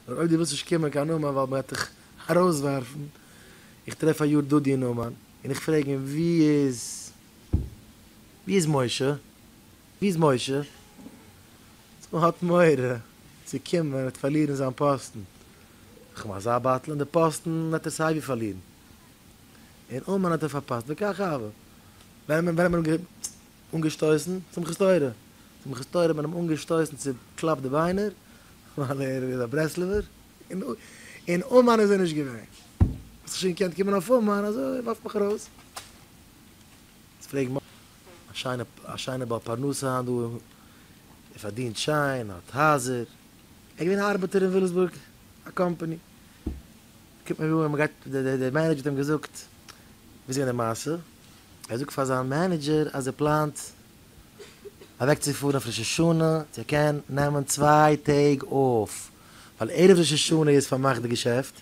אבער אויב דו ווילסט נישט קומען קיין אומאן ווייל מען וועט דיך ארויסווארפן, איך טרעף א יאר דודי אין אומאן און איך פרעג אים ווי איז ווי איז משה? ווי איז משה? זאגט מען האט מורא צו קומען ער וועט פארלירן זיין פאסטן, זאג איך אים אזא בטלן, די פאסטן וועט ער סייווי פארלירן, אין אומאן האט ער פארפאסט וכך הוה, ווען מען ווען מען האט אנגעשטויסן שמחת תורה, שמחת תורה האט מען אים אנגעשטויסן צו קלאפ די ביינער ווייל ער איז א ברסלב'ער, אין אומאן איז ער נישט געווען, האסט שוין געקענט קומען אויף אומאן, אזוי ווארף מיך ארויס, יעצט פרעג מ. א שיינע א שיינע בעל פרנסה היינט דא, ער פארדינט שיין, האט הייזער, ער געווען א ארבעטער אין וויליסבורג א קאמפעני, קומט מיר אן, מ'גייט, די מענעדזשער האט אים געזאגט, וואס איז געווען די מעשה? ער זאגט פאר זיין מענעדזשער אז ער פלאנט אוועקצופארן אויף ראש השנה צו קענען נעמען צוויי טעג אויף, ווייל ערב ראש השנה איז פארמאכט די געשעפט,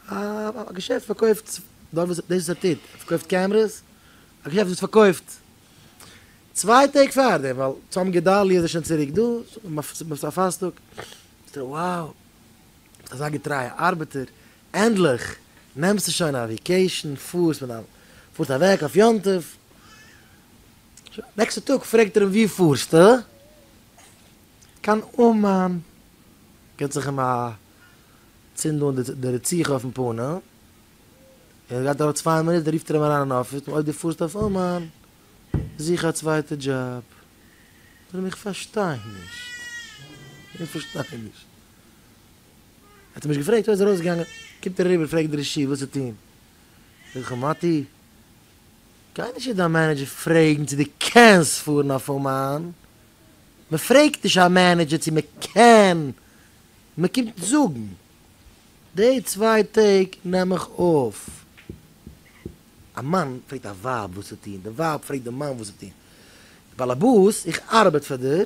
א געשעפט פארקויפט דארט וואס דאס וואס ער טוט, ער פארקויפט קעמרעס, א געשעפט וואס פארקויפט, צוויי טעג פארדעם, ווייל צום גדלי' איז ער שוין צוריק דא, ס'איז א פאסטאג, זאגט ער, וואו, ביסט אזא געטרייע ארבעטער, ענדליך נעמסטו שוין א וויקעישן, פארסט מיט דיין, פארסט אוועק אויף יום טוב, שוין, נעקסטע טאג פרעגט ער אים וואו פארסטו? קיין אומאן, גיבט זיך אים א צינד אן די די רציחה אויפן פנים, און עס גייט ארויף צוויי מינוט רופט ער אים אריין אין אפיס, אויב דו פארסט אויף אומאן, זוך א צווייטע דזשאב, זאגט ער אים איך פארשטיי נישט, איך פארשטיי נישט. האט ער מיך געפרעגט אויב איז ארויס געגאנגען. קומט ער אריבער פרעגט דער אישי וואס צו טון. זאג איך אים מאטי גיי נישט צו דיין מענעדזשער פרעגן צו דו קענסט פארן אויף אומאן, מען פרעגט נישט א מענעדזשער צו מען קען, מען קומט זאגן. די צוויי טעג נעם איך אויף. א מאן פרעגט א ווייב וואס צו טון, די ווייב פרעגט די מאן וואס צו טון. בעל הבית איך ארבעט פאר דיר,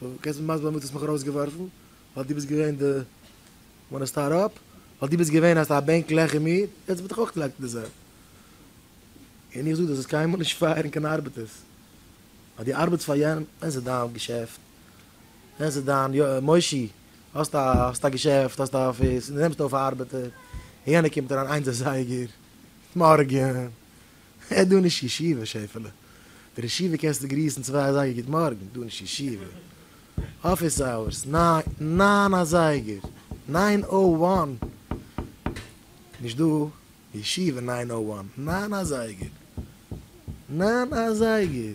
סאו קענסט מיר מסביר זיין וואס דו האסט מיך ארויסגעווארפן? ווייל דו ביסט געווען די וואן סטארט אפ? ווייל דו ביסט געווען האסט א בענק לעכער מיר? יעצט בין איך אויך גלייך די זעלבע. און איך זאג דו זאלסט קיינמאל נישט פייערן קיין ארבעטערס. אז דו ארבעטסט פאר יענעם, ווען ס'איז דיין געשעפט, ווען ס'איז דיין יא מושי, האסט א האסט א געשעפט, האסט א אפיס, און דו נעמסט אויף א ארבעטער, און יענער קומט אריין איינזע זייגער מארגען, אה, דא נישט ישיבה, שעפעלע. דער ישיבה קענסטו גריסן צוויי אזייגער גוט מארגן, דא נישט ישיבה. אפיס אווערס, ניין, ניין אזייגער, ניין או וואן. נישט דא ישיבה ניין או וואן, ניין אזייגער, ניין אזייגער.